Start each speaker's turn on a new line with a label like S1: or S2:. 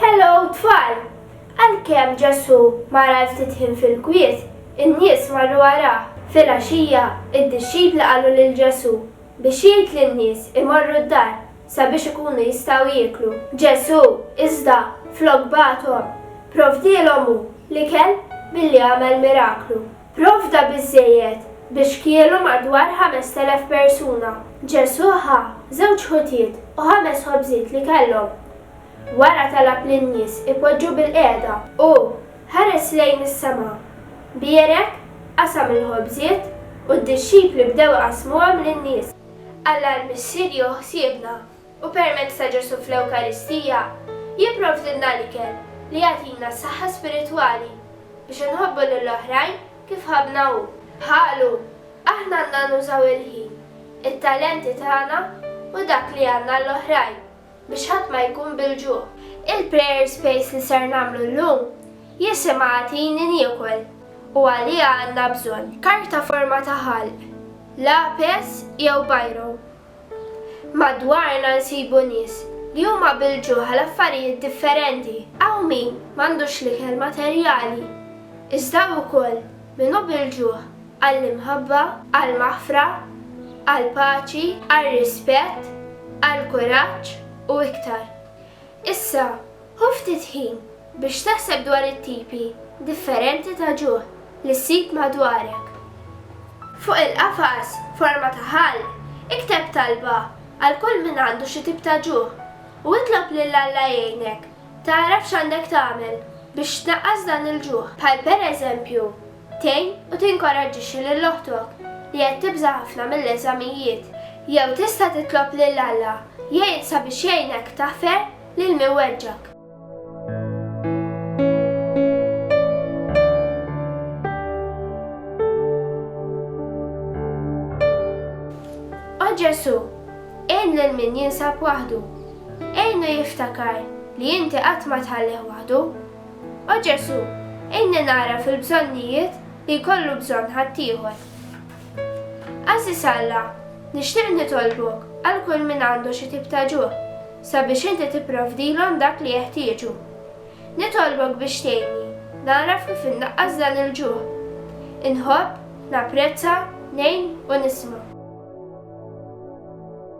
S1: Hello tfal! Għalkemm Ġesù mar għal ftit ħin fil-kwiet, in-nies marru warah. Filgħaxija, id-dixxipli qalu lil Ġesù biex jgħid lin-nies imorru d-dar sabiex ikunu jistgħu jieklu. Ġesù, iżda, flok bagħathom, provdielhom hu l-ikel billi għamel miraklu. Provda biżżejjed biex kielu madwar ħamest elef persuna. Ġesù ħa żewġ ħutiet u ħames ħobżiet li kellhom. Wara talab lin-nies ipoġġu bilqiegħda. Hu ħares lejn is-sema, bierek, qasam il-ħobżiet, u d-dixxipli bdew iqassmuhom lin-nies. Alla l-Missier jieħu ħsiebna. u permezz ta' Ġesù fl-Ewkaristija, jipprovdilna l-ikel li jagħtina s-saħħa spiritwali biex inħobbu lil oħrajn kif ħabbna hu. Bħalu, aħna għandna nużaw il-ħin, it-talenti tagħna u dak li għandna għall-oħrajn biex ħadd ma jkun bil-ġuħ. Il-prayer space li ser nagħmlu llum jisimha Agħtini Niekol u għaliha għandna bżonn. Karta forma ta' ħalq, lapes jew biro Madwarna nsibu nies li huma bil-ġuħ għal affarijiet differenti. Hawn min m'għandux l-ikel materjali, iżda hawn ukoll min hu bil-ġuħ għall-imħabba, għall-maħfra, għall-paċi, għar-rispett, għall-kuraġġ u iktar. Issa, ħu ftit ħin biex taħseb dwar it-tipi differenti ta' ġuħ li ssib madwarek. Fuq il-qafas forma ta' ħall, ikteb talba għal kull min għandu xi tip ta' ġuħ u itlob lil Alla jgħinek tagħraf x'għandek tagħmel biex tnaqqas dan il-ġuħ. Bħal pereżempju, Tgħin u tinkoraġġixxi lil oħtok li qed tibża' ħafna mill-eżamijiet. Jew tista' titlob lil Alla jgħin sabiex jgħinek taħfer lil min weġġgħek. O Ġesù, għin lil min jinsab waħdu. Għinu jiftakar li inti qatt ma tħallih waħdu. O Ġesù, għinni nagħraf il-bżonnijiet li jkollu bżonn ħaddieħor. Għażiż Alla, nixtieq nitolbok għal kull min għandu xi tip ta' ġuħ, sabiex inti tipprovdilhom dak li jeħtieġu. Nitolbok biex tgħinni nagħraf kif innaqqas dan il-ġuħ. Inħobb, napprezza, ngħin u nisma'.